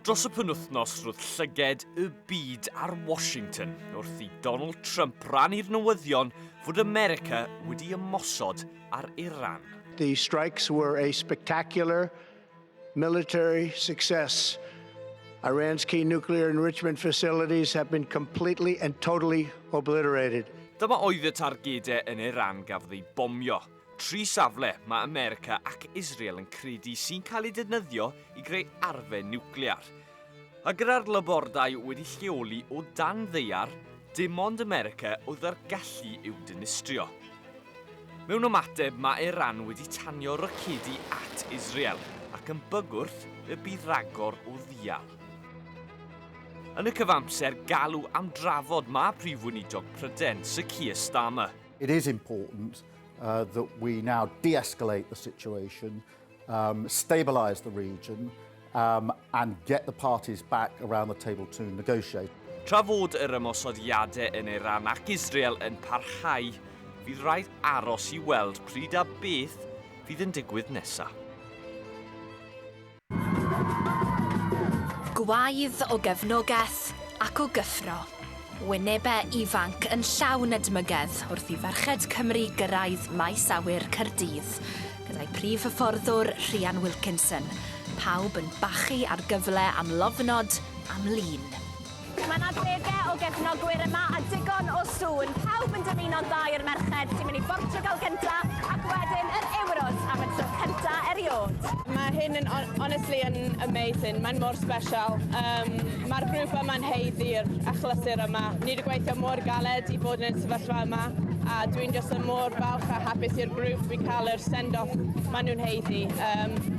Dros y penwythnos roedd llyged y byd ar Washington wrth i Donald Trump rannu'r newyddion fod America wedi ymosod ar Iran. The strikes were a spectacular military success. Iran's key nuclear enrichment facilities have been completely and totally obliterated. Dyma oedd y targedau yn Iran gafodd eu bomio. Tri safle mae America ac Israel yn credu sy'n cael eu defnyddio i greu arfe niwclear. A gyda'r labordai wedi lleoli o dan ddeiar, dim ond America oedd â'r gallu i'w dinistrio. Mewn ymateb mae Iran wedi tanio rocedi at Israel ac yn bygwrth y bydd ragor o ddial. Yn y cyfamser galw am drafod mae Prif Weinidog Pryden, Sir Keir Starmer, It is important uh, that we now de-escalate the situation, um, stabilise the region um, and get the parties back around the table to negotiate. Tra fod yr ymosodiadau yn Iran ac Israel yn parhau, fydd rhaid aros i weld pryd a beth fydd yn digwydd nesaf. Gwaedd o gefnogaeth ac o gyffro. Wynebe ifanc yn llawn edmygedd wrth i ferched Cymru gyrraedd maes awyr Caerdydd, gyda'i prif hyfforddwr Rhian Wilkinson, pawb yn bachu ar gyfle am lofnod am lun. Mae yna degau o gefnogwyr yma a digon o sŵn. Pawb yn dymuno'n dda i'r merched sy'n mynd i Bortiwgal gyntaf ac wedyn yr Euros am y tro cyntaf erioed. Mae hyn yn honestly yn amazing, mae'n mor special. Um, Mae'r grŵp yma'n heiddi'r achlysur yma. Ni wedi gweithio mor galed i fod yn y sefyllfa yma a dwi'n just yn mor falch a hapus i'r grŵp i cael yr send-off maen nhw'n heiddi. Um,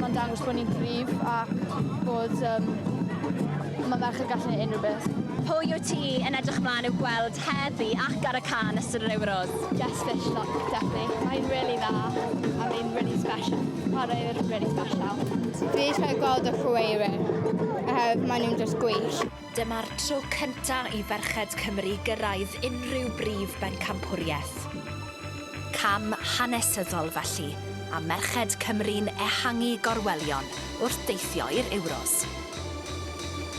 Mae'n dangos bod ni'n gryf ac bod um, mae merched yn gallu gwneud unrhyw beth. Pwy wyt ti yn edrych ymlaen i'w gweld heddi ac ar y can ystod yr Euros? Jess Fishlock, definitely. Mae'n really dda a mae'n really special. Chwaraewyr really special. Dwi eisiau gweld y chwaraewyr, uh, maen nhw'n just gwych. Dyma'r tro cynta' i ferched Cymru gyrraedd unrhyw brif bencampwriaeth. Cam hanesyddol felly, a merched Cymru'n ehangu gorwelion wrth deithio i'r Euros.